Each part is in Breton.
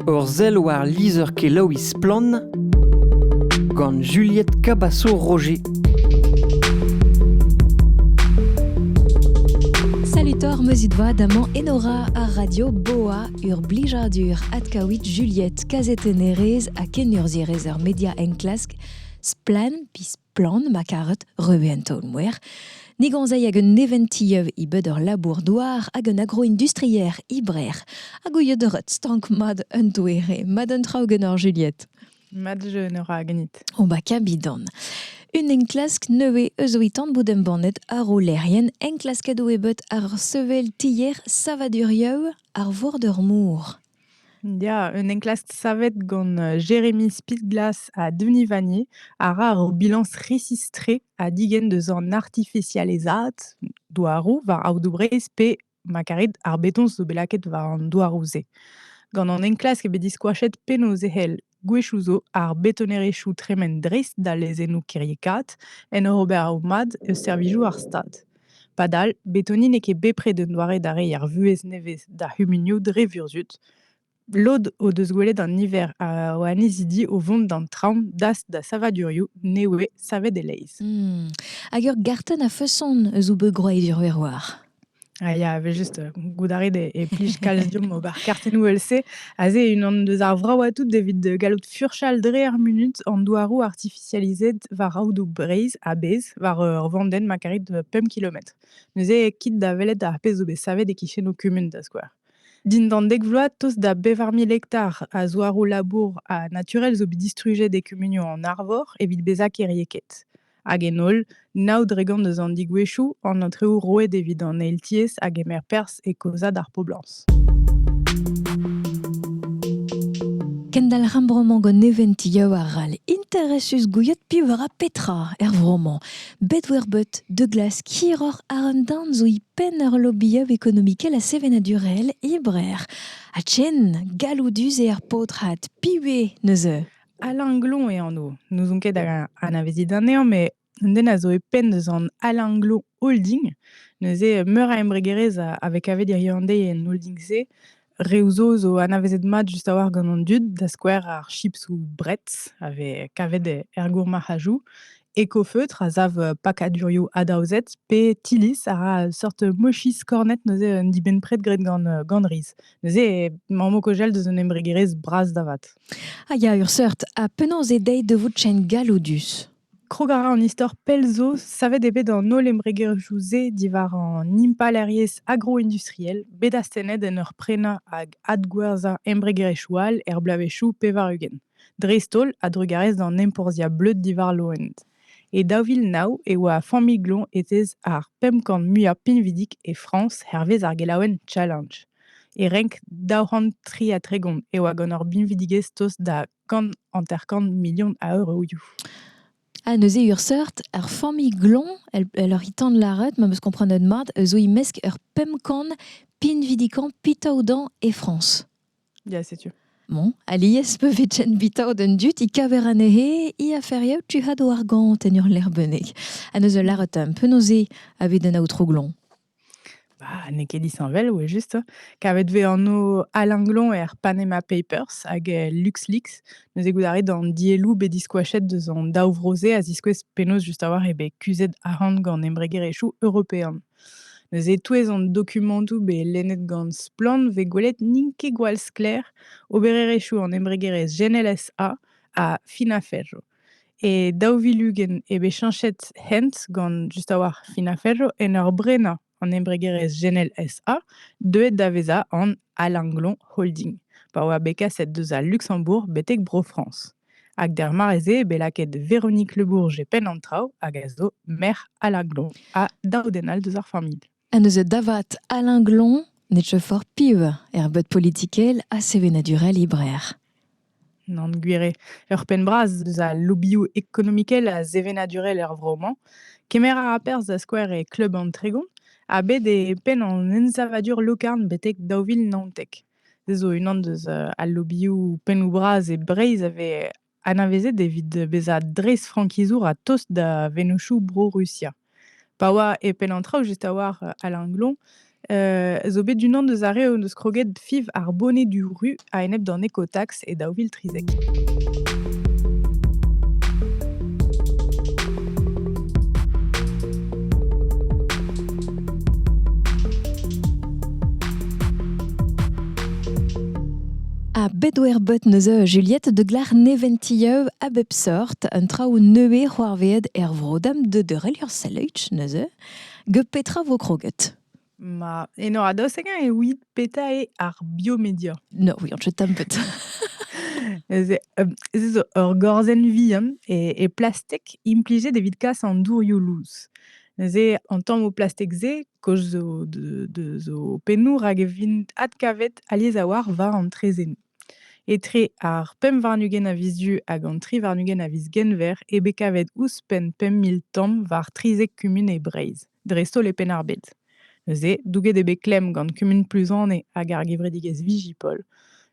Ur sell war lizher-kelaouiñ Splann! gant Juliette Cabasso-Roger. Salut Thor, meuzit voa d'amañ Enora ar radio Boa ur blijadur adkaouit Juliette kazetennerez ha kenurzhierez er media enklask Splan, Plan ma karet, reve en taol-mouer, ne gonzei hag un neventilleuv e bed ur labour-douar hag un agroindustrier e Brec'h, hag ouiet ret stank mat un doere, mat un traoù genor Juliette. Mat jeu ora ganit. O ba kabidan. Un enklask nevez eus ouitan bout embannet ar olerien enklasket o ebet ar sevel tier savadurieu ar vor d'ur mour. Ya, un enklask savet gant euh, Jérémy Spitglass à Denis Vanier a ra ur bilañs resistré a digenn deus an artificializaat douaroù war aodoù-Breizh pe ma karit ar beton zo bet lakaet war an douaroù-se. Gant an enklask eo bet diskoachet penaos e c'hell Gwechoù zo ar betonerezhioù tremen dreist da lezennoù kiriekaat en ur ober o mad eus servijoù ar Stad. Padal, betoni n'eo ket bepred un doare da reiñ ar vuhez nevez d'ar c'humunioù dre vurzhud. Lod o deus gwelet an niver o annezidi o vont d'an traoñ dast da savadurioù ne voe savet e-leizh. Hag ur gartenn a-feson eus o beg-gwraet Iruerwar. Ah, il y avait juste, heu, goudarit et et plij calcium ober kartennoù ELC. Aze unan deus ar vraoù atout evit de gallout furchal dre ar munut an douaroù artifisializet war aodoù Breizh a-bezh war, heu, ur vandenn ma karit, heu, pemp kilometr. Neuze, kit da welet ar pezh zo bet savet e-kichenoù kumun, da skouer. Dindan dek vloaz, tost da bevar mil hektar a zouaroù-labour ha naturel zo bet distrujet e kumunioù an Arvor evit bezañ kêriekaet. Hag en holl, nav dregont eus an digwezhioù, an aotrou roet evit an eil tiez a gemer perzh e kaozañ ar poblañs. Kendalc'h ar vro-mañ gant neventioù arall interesus gouiet piv a ra petra er vro-mañ. Bet-wer-bet, De Glace hiroc'h a un darn zo e penn ur lobby-up ekonomikel ha sevenadurel e Brer. Ha chen galloudus eo ar paotred, piv eo neuze? Alain Glon eo anv. N'ouzon ket hag anavezit anezhañ, mais un den a zo e penn deus an Alain Glon Holding. Neuze, meur a embregerezh a, a vez kavet hiriv-an-deiz en holding-se. Reoù zo zo anavezet mat just a-walc'h gant an dud, da skouer ar chips ou Bretz, a vez kavet er gourmarc'hajoù. Ecofeutre a sav pakadurioù adaozet, pe Tillis a ra seurt mochis kornet neuze un dibenn-pred graet gant, gant riz. Neuze, mamm o kojell deus un embregerezh bras da vat. Ah ya, ur seurt. Ha penaos eo dezhi da vout chen galloudus? Krog a ra an istor pell zo savet eo bet an holl embregerioù-se diwar an impalaeriezh agro-industriel bet astennet en ur prenañ hag adgwerzhañ embregerezhioù all er bloavezhioù pevar-ugent. dreist-holl a-drugarez d'an enporzhiañ bleud diwar loened. E daou vil nav e oa ar familh-gloñ etez ar pemp kant muiañ pinvidik e Frañs hervez ar gelaouenn Challenge. E renk daou c'hant tri ha tregont e oa gant ur binvidigezh tost da kant hanter-kant milion a euroioù. Ah, neuze urseurt, ar familh gloñ, elle, elle oc'h tan lâret, ma meus komprenet mat, zo e-mesk ur pemp kant pinvidikañ pitaodañ e Frañs. Ya, setu. Bon, alies pe vetchen bitao den dut i kaver anehe i aferiou tu had war gant en ur lerbeneg. Ha neus ul laret un penaoze a ved an aotrou glon. Bah, n'eo ket disheñvel, ouais, juste. Kavet vez anv Alain Glon er Panama Papers hag eh, LuxLeaks. Neus e goudaret an dielloù bet diskoachet deus an daou vro-se a ziskouez penaos just a-walc'h eo bet kuzhet arc'hant gant embregerezhioù european. Neuze e-touez an dokumantoù bet lennet gant Splann! vez gwelet n'int ket gwall sklaer obererezhioù an embregerezh GNLSA ha Finaferro. E daou vil ugent eo bet cheñchet hent gant just a-walc'h Finaferro en ur brenañ an embregerezh GNLSA deuet da vezañ an Alinglon Holding pa oa bet kaset deus al Luxembourg betek Bro-Frañs. Hag d'ar mare-se bet lakaet Véronique Le Bourg e penn an traoù hag a zo merc'h Alain Glon ha daou den all deus ar familh. Ha neuze davat Alain Glon ne teu fort piv er beud politikel ha sevenadurel e Brec'h. Nan gwir eo. Ur penn bras deus al lobioù ekonomikel ha sevenadurel er vro-mañ. Kemer a ra perzh da skouer e kleub an Tregon ha bet e penn an ensavadur lokarn betek daou vil naontek. Se zo unan deus al lobioù pennoù-bras e Breizh a vez anavezet evit bezañ dreistfrankizour a-tost da vennozhioù Bro-Rusia. Pa oa e penn an traoù just a-walc'h Alain Glon zo bet unan deus ar re o deus kroget fiv ar boned du ru a-enep d'an ekotax. e daou vil trizek. A bedwerbut neuze Juliette de Glar neventilleu a bep sort un traoù neuze c'hoarveet er vrodam de deurel ur seleuch neuze, ge petra vo kroget? Ma eno a-dost hemañ evit petra eo ar biomedia? No, we aren't tam but. Neuze, um, ez eus ur gorzenn vihan e e plastek implijet evit kas an dourioù lous. Neuze, an tammoù plastek-se, kaoz zo de deus o pennoù rak e vint adkavet alies a-walc'h war an traezhennoù. Etre ar pemp warn-ugent a viz du hag an tri warn-ugent a viz Genver eo bet kavet ouzhpenn pemp mil tamm war trizek kumun e Breizh. dreist-holl e Penn-ar-Bed. Neuze, douget eo bet klemm gant kumun Pluzane hag ar gevredigezh Vigipol.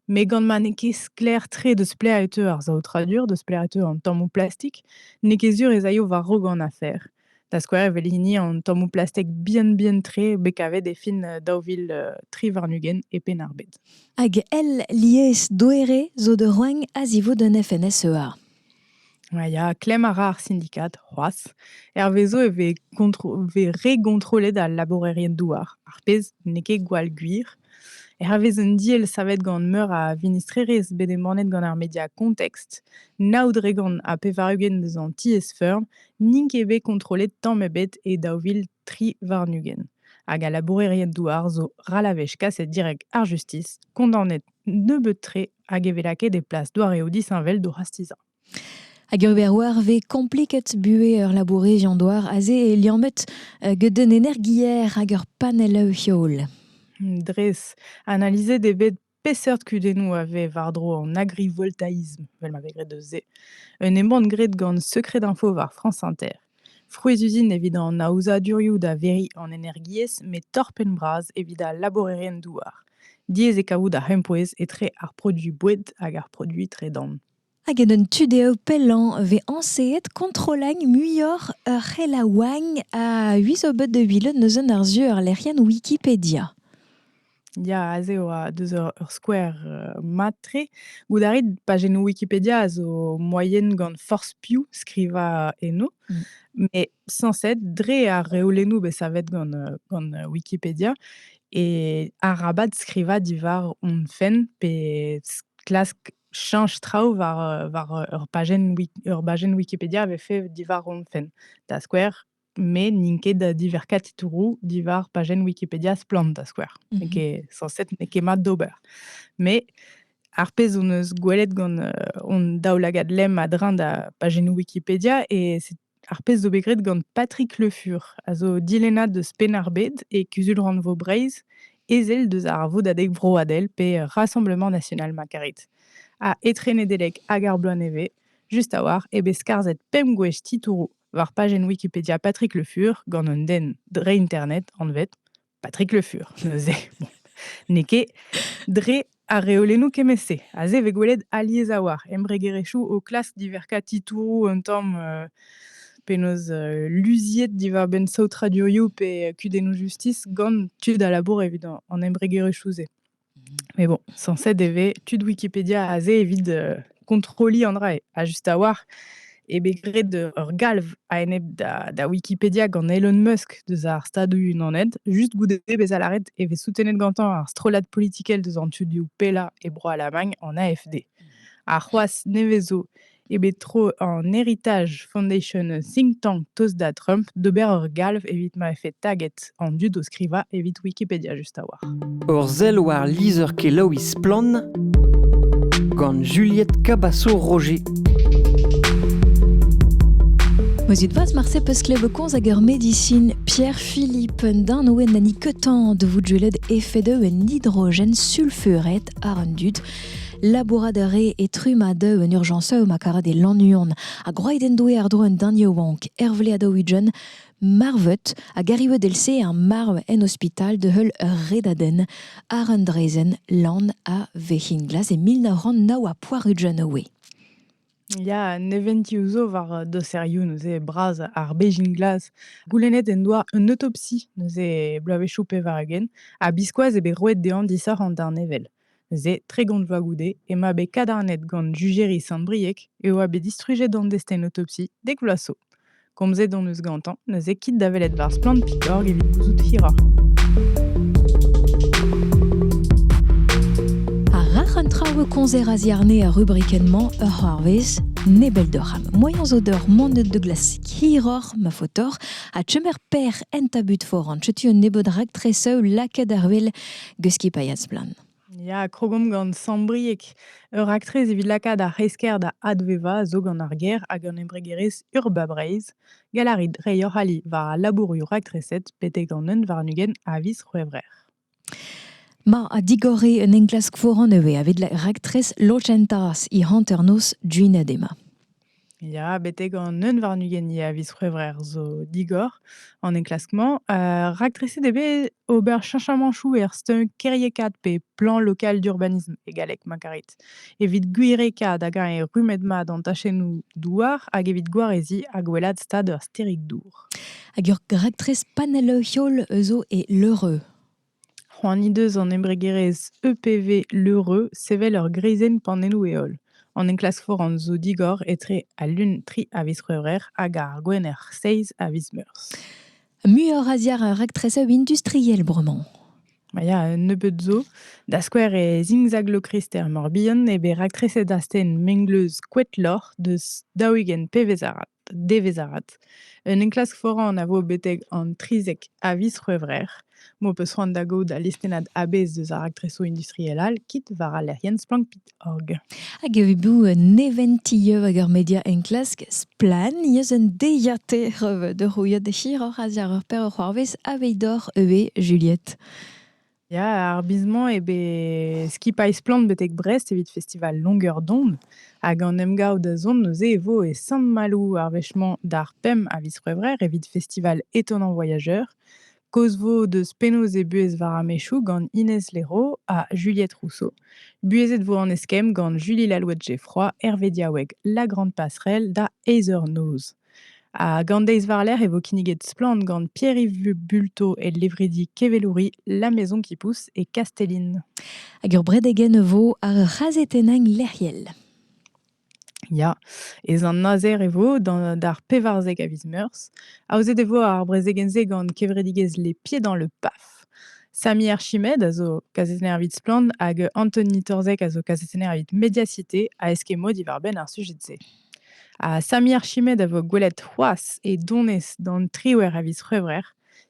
Met gant ma n'eo ket sklaer-tre deus plec'h e teu ar saotradur, deus plec'h e teu an tammoù plastik, n'eo ket sur ez aio war raok an afer. Da skouer evel hini an tammoù plastek bihan-bihan-tre bet kavet e fin euh, daou vil euh, tri warn-ugent e Penn-ar-Bed. Hag el lies doere zo da roagn a zivout un FNSEA. Ya, klemm a ra ar sindikad c'hoazh. Hervezo e vez gontro vez re gontrollet al labourerien-douar, ar pezh n'eo ket gwall gwir. Hervez un deal savet gant meur a vinistrerezh bet embannet gant ar media Context, nav dregont ha pevar-ugent eus an tiez-feurm n'int ket bet kontrollet tamm ebet e daou vil tri warn-ugent. Hag al labourerien-douar zo ral a wech kaset direk ar justis, kondaonet nebeut-tre hag e vez lakaet e plas doareoù disheñvel d'o c'hastizañ. Hag ur beroar vez kompliket buhez ur labourerion douar aze e liammet euh, get un energier hag ur panell heol. Dres. Analizet eo bet peseurt kudennoù a vez war-dro an agrivoltaïsme, vel ma vez graet eus se. Un embann graet gant Secret Info war France Inter. Frouezh-uzin evit an aozadurioù da veriñ an energiezh met torr-penn-bras evit al labourerien-douar. Diaes eo kavout ar c'hempouez etre ar produiñ boued hag ar produiñ tredan. Hag en un tu dezho pellañ vez añseet kontrolagn muioc'h ur c'helaouagn a-us o bed de Villeneuve neuze ar sur lec'hienn Wikipedia. Ya, aze e oa deus ur ur skouer, heu, mat-tre. Goût a rit pajennoù Wikipedia a zo moyen gant forzh piv skrivañ eno, Mmh. mais censé dre ar reolennoù bet savet gant, heu, gant, heu, Wikipedia et arabat skrivañ diwar hon fenn pe s klask chañch traoù war, heu, war, heu, ur pajenn wik ur bajenn Wikipedia avait fait diwar hon fenn. Da skouer met n'int ket diverkañ titouroù diwar pajenn Wikipedia Splann, da skouer. Mhm. N'eo ket sañset, n'eo ket mat d'ober. Mais ar pezh hon eus gwelet gant euh, hon daoulagad lemm a-dreñv da pajennoù Wikipedia et c'est ar pezh zo bet graet gant Patrick Le Fur, a zo dilennad deus Penn-ar-Bed et Kuzul-rannvro Breizh, ezel deus ar Vodadeg Vroadel pe Rassemblement National ma karit, a etre Nedeleg hag ar bloaz nevez, just a-walc'h eo bet skarzhet pemp gwech titouroù war pajenn Wikipedia Patrick Le Fur gant un den dre internet anvet Patrick Le Fur. Neuze, bon, n'eo ket dre ar reolennoù kemmet-se. Aze e vez gwelet alies a-walc'h embregerezhioù o klask diverkañ titouroù un tamm euh, penaos euh, luziet diwar-benn saotradurioù pe kudennoù justis gant tud a labour evit an embregerezhioù-se. Mais bon, censé e tud Wikipédia aze evit, heu, kontrolliñ an dra ha just a-walc'h eo bet graet ur galv a-enep da da Wikipedia gant Elon Musk deus ar Stadoù-Unanet. Just goude bezañ lâret e vez soutenet gantañ ar strollad politikel deus an tudioù pellañ e Bro-Alamagn, an AFD. Ha c'hoazh, nevez 'zo eo bet tro an Heritage Foundation think tank Toast da Trump d'ober ur galv evit ma vefe taget an dud o skrivañ evit Wikipedia just a-walc'h. Ur sell war lizher-kelaouiñ Splann! gant Juliette Cabasso-Roger. Mozit vaz marse peus klevet konz hag ur medisin Pierre-Philippe Darnoen na ni ketan de vous gellet efet un hydrogène sulfuret ar an dud Labourat a ree e trumm a deu en urjañsaoù ma karet e Lannuon, ha gwraet en doe àr-dro un den yaouank, Hervle Adaouidjen, marvet ha garivet else ar marv en ospital da heul ur redadenn àr un draezhenn lan a Vec'hinglas e mil nav c'hant nav ha poar-ugent oe. Ya, neventiou zo war uh, doserioù neuze bras ar Bejin-Glas. Goulennet en doa un autopsi neuze bloavezhioù pevar-ugent, ha biskoazh eo bet roet dezhañ disoc'h an darnevel. Neuze, tregont vloaz goude, emañ bet kadarnet gant Jujeri Sant-Brieg e oa bet distrujet an destenotopsi dek vloaz zo. Komzet hon eus gantañ neuze kit da welet war Splann.org evit gouzout hiroc'h. Ha rac'h an traoù e komzer a-ziarne ar rubrikenn-mañ ur c'hoarvezh nebel deoc'h am moaien zo deoc'h monet de glasik hiroc'h ma faotoc'h ha chemer per en tabut foran. Setu un nebeud raktres lakaet àr wel Guski Payas-Splann. Ya, krogomp gant Sambrieg, ur raktres evit lakaat ar c'hresker da advevañ zo gant ar ger hag an embregerezh Urba Breizh. Galarit reiñ hoc'h ali war al labourioù raktreset betek an un warn-ugent a viz C'hwevrer. Ma a digore un enklask foran ivez evit raktres lochentas he hanternoz duinad ema. Ya, betek an neun warn-ugent eo a viz C'hwevrer zo digor an enklask-mañ. Heu, raktreset eo bet ober cheñchamanchoù er stumm kêriekaat pe plan lokal d'urbanisme e galleg, ma karit. Evit gwirekaat hag eñ rummet mat an tachennoù douar hag evit gwareziñ ha gwellaat stad ur stêrig-dour. Hag ur raktres panell-heol zo e Leureux. C'hoant he deus an embregerezh EPV L'Heureux sevel ur greizenn panelloù-heol. An enklask foran zo digor etre al Lun tri a viz C'hwevrer hag ar Gwener seizh a viz Meurzh. Muioc'h a ziar ar raktrezeu industriel bremañ. Ma ya, un nebeud zo. Da skouer e zingzaglokrister Morbihan eo bet raktreset astenn mengleuz Koetloc'h deus daou-ugent pevez arat. Devezh avat. Un enklask foran a vo betek an 30 a viz C'hwevrer m'ho peus c'hoant da gaout al listennad a-bezh deus ar raktresoù industriel all kit war al lec'hienn Splankpit.org. Hag evit bout neventieu hag ur media enklask splann eus un deiziataer vet o c'houiet hiroc'h a-ziàr ur perv c'hoarvez aveit doc'h eve Juliette. Ya, ar biz-mañ eo bet skipailh splann betek Brest evit festival Longueur d'onde. Hag an emgav da zont neuze e vo e Sant-Maloù ar wech-mañ d'ar pemp a viz C'hwevrer evit festival étonnant voyageur. Kaoz vo deus penaos eo buhez war ar mechoù gant Inès Léraud ha Juliette Rousseau. Buhezet vo an eskemm gant Julie Lalouette-Geffroy, Hervé Diaoueg La Grande Passerelle da Aether Noz. Hag an deiz war-lerc'h e vo kinniget Splann gant Pierre-Yves Bulto e levredi Kevelouri La Maison qui pousse et Castelline. Hag ur bredegen e vo ar c'hazetennañ lec'hiel. Ya, ez an azer e vo d'ar pevarzek a viz meurzh. Aozet e vo ar brezegenn-se gant kevredigezh Les Pieds dans le PAF. Sami Archimed a zo kazetenner evit Splann hag Anthony Torzek a zo kazetenner evit Mediacité a eskemo diwar-benn ar sujet-se. Ha Sami Archimed a vo gwelet c'hoazh e donez d'an triwec'h a viz C'hwevrer.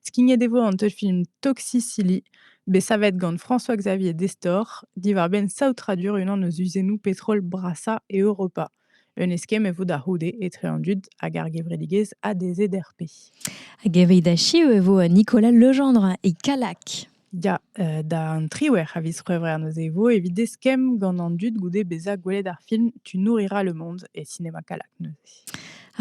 Skignet e vo an teulfilm Toxicilly, bet savet gant François-Xavier Destor, diwar-benn saotradur unan eus uzennoù petrol brasañ Europa. Un eskemm e vo da c'houde etre an dud hag ar gevredigezh ADZRP. Hag evit achiu e vo Nicolas Legendre e Kallag. Ya, heu, d'an triwec'h a viz C'hwevrer neuze e vo evit eskemm gant an dud goude bezañ gwelet ar film Tu nourrira le monde et Cinéma Calac neuze.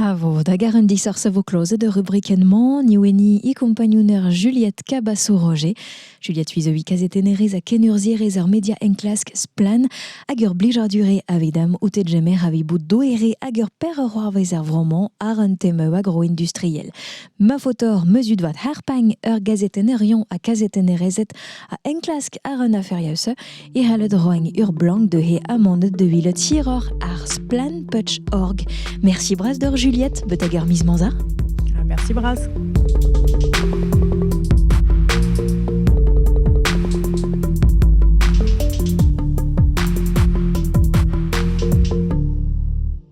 A vo da gar un disoc'h a vo klozet ur rubrikenn-mañ, ni weni e kompagnouner Juliette Cabasso-Roger. Juliette Suizovi kazetennerez ha kenurzhierez er media enklask Splann! hag ur blijardure avidam outet jemer a vi bout doere hag ur per ur c'hoarvez er vro-mañ àr un tema industriel. Ma faotr mezut vat harpagn ur gazetenerion ha kazetennerezed a enklask ar un aferius e c'hallet roiñ ur blank de he amanded de vil tiror ar splanputch.org. Merci bras d'or Juliette, betag ur mis manza. Ah, merci bras.